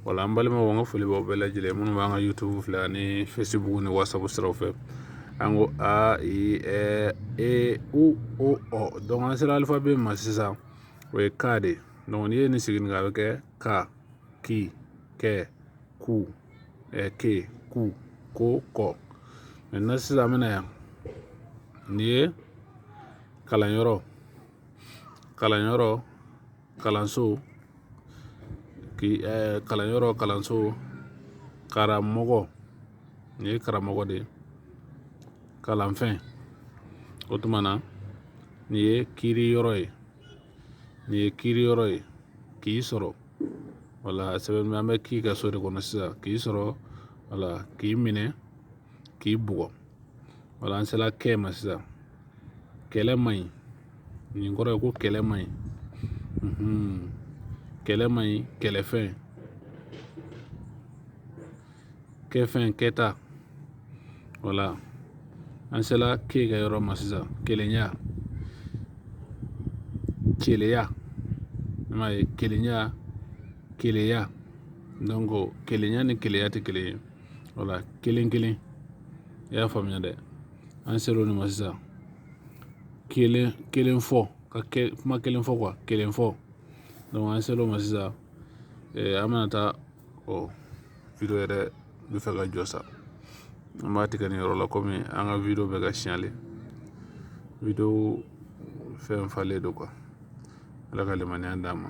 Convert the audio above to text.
wala an balimaw an ka foli b'aw bɛɛ lajɛlen minnu b'an ka youtube filɛ ani facebook ni whatsapp siraw fɛ an ko a i ɛ e u o ɔ donc an sera alifabe ma sisan o ye ka de donc n'i ye nin sigi nin kan a bɛ kɛ ka ki kɛ ku ɛ ke ku ko kɔ maintenant sisan an bɛ na yan nin ye kalanyɔrɔ kalanyɔrɔ kalanso k'i ɛɛ kalanyɔrɔ kalanso karamɔgɔ nin ye karamɔgɔ de ye kalanfɛn o tuma na nin ye kiiriyɔrɔ ye nin ye kiiriyɔrɔ ye k'i sɔrɔ wala sɛbɛn an bɛ ki ka so de kɔnɔ sisan k'i sɔrɔ wala k'i minɛ k'i bugɔ wala an sela kɛ ma sisan kɛlɛ man ɲi nin kɔrɔ ye ko kɛlɛ man ɲi kɛlɛ man ɲi kɛlɛfɛn kɛfɛn kɛta wala an sela ke ka yɔrɔ ma sisan kelenya keleya i m'a ye kelenya keleya donc kelenya ni keleya tɛ kelen ye wala kelen kelen i y'a faamuya dɛ an sela o de ma sisan kelen kelen fɔ ka kuma kelen fɔ quoi kelen fɔ donc an sela o ma sisan an bɛna taa video yɛrɛ bɛ fɛ ka jɔ sa an b'a tigɛ nin yɔrɔ la kɔmi an ka video bɛ ka signaler video fɛn falen don quoi ala ka limaniya d'an ma